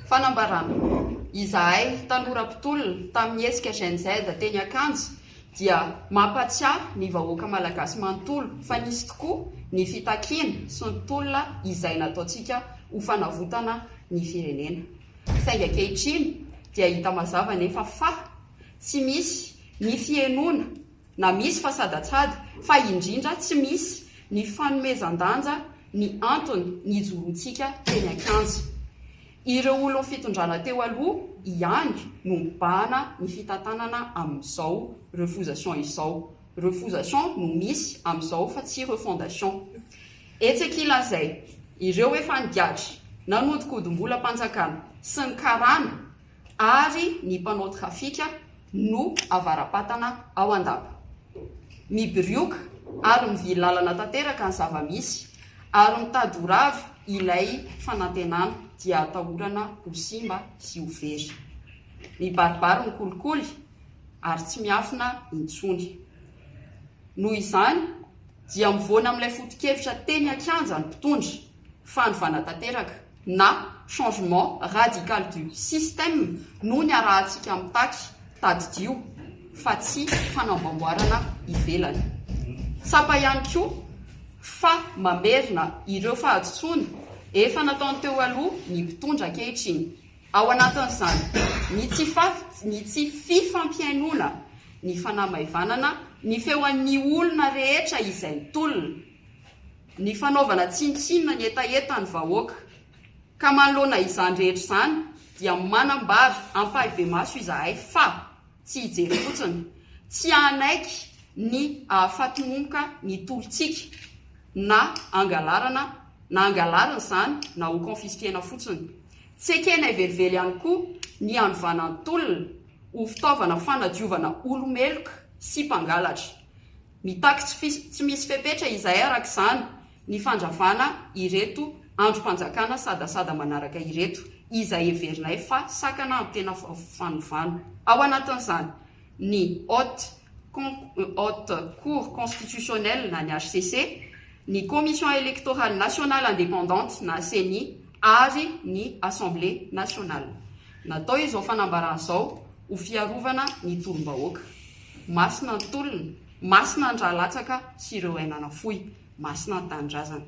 Fanambarana, izahay tanora mpitolona tamin'ny hetsika Gen Z teny Ankanja dia mampatsiahy ny vahoaka malagasy manontolo fa nisy tokoa ny fitakiana sy ny tolona izay nataontsika ho fanavotana ny firenena. Saingy ankehitriny dia hita mazava anefa fa tsy misy ny fihenoana na misy fa sadatsada, fa indrindra tsy misy ny fanomezan-danja ny antony nijorontsika teny an-kianja. Ireo olon'ny fitondrana teo aloha ihany no mibahana ny fitantanana amin'izao refusation izao. Refusation no misy amin'izao fa tsy refondation. Etsy ankilan'izay, ireo efa nigadra nanodinkodimbolam-panjakana sy ny karana, ary ny mpanao trafika no avara-patana ao Andapa. Mibirioka ary mivily lalana tanteraka ny zava-misy ary mitady ho rava ilay fanantenana dia atahorana ho simba sy ho very. Mibaribary ny kolikoly ary tsy miafina intsony. Noho izany dia mivoana amin'ilay foto-kevitra teny an-kianja ny mpitondra. fanovana tanteraka na changement radical du système no niarahantsika mitaky, tadidio fa tsy fanamboamboarana ivelany. Tsapa ihany koa fa mamerina ireo fahadisoana efa nataony teo aloha ny mpitondra ankehitriny, ao anatin'izany ny tsy ny tsy fifampihainoana, ny fanamaivanana ny feon'ny olona rehetra izay tolona. ny fanaovana tsinontsinona ny hetahetan'ny vahoaka, ka manoloana izany rehetra izany dia manambara ampahibemaso izahay fa tsy hijery fotsiny, tsy hanaiky ny hahafatomomka ny tolontsika na angalarana na angalarina izany na ho confisquena fotsiny. Tsy ekenay velively ihany koa ny hanovana ny tolona ho fitaovana fanadiovana olo-meloka sy mpangalatra. Mitaky tsy misy fepetra izay araka izany ny fandravana ireto andrim-panjakana sadasada manaraka ireto izay heverinay fa sakana amin'ny tena fanovana. Ao anatin'izany ny Haute Haute Cour Constitutionnelle na ny hcc, ny Commission Electorale Nationale Indépendante na ceni ary ny Assemblée Nationale. Natao izao fanambarana izao ho fiarovana ny tolom-bahoaka. Masina ny tolona, masina ny ra latsaka sy ireo aina nafoy, masina ny tanindrazana.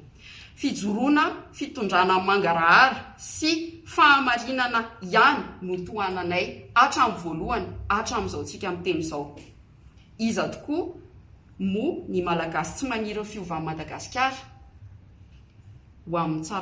Fijoroana fitondrana mangarahara sy fahamarinana ihany no tohananay hatramin'ny voalohany hatramin'izao tsika miteny izao. Iza tokoa moa ny Malagasy tsy maniry ny fiovan' Madagasikara ho amin'ny tsara.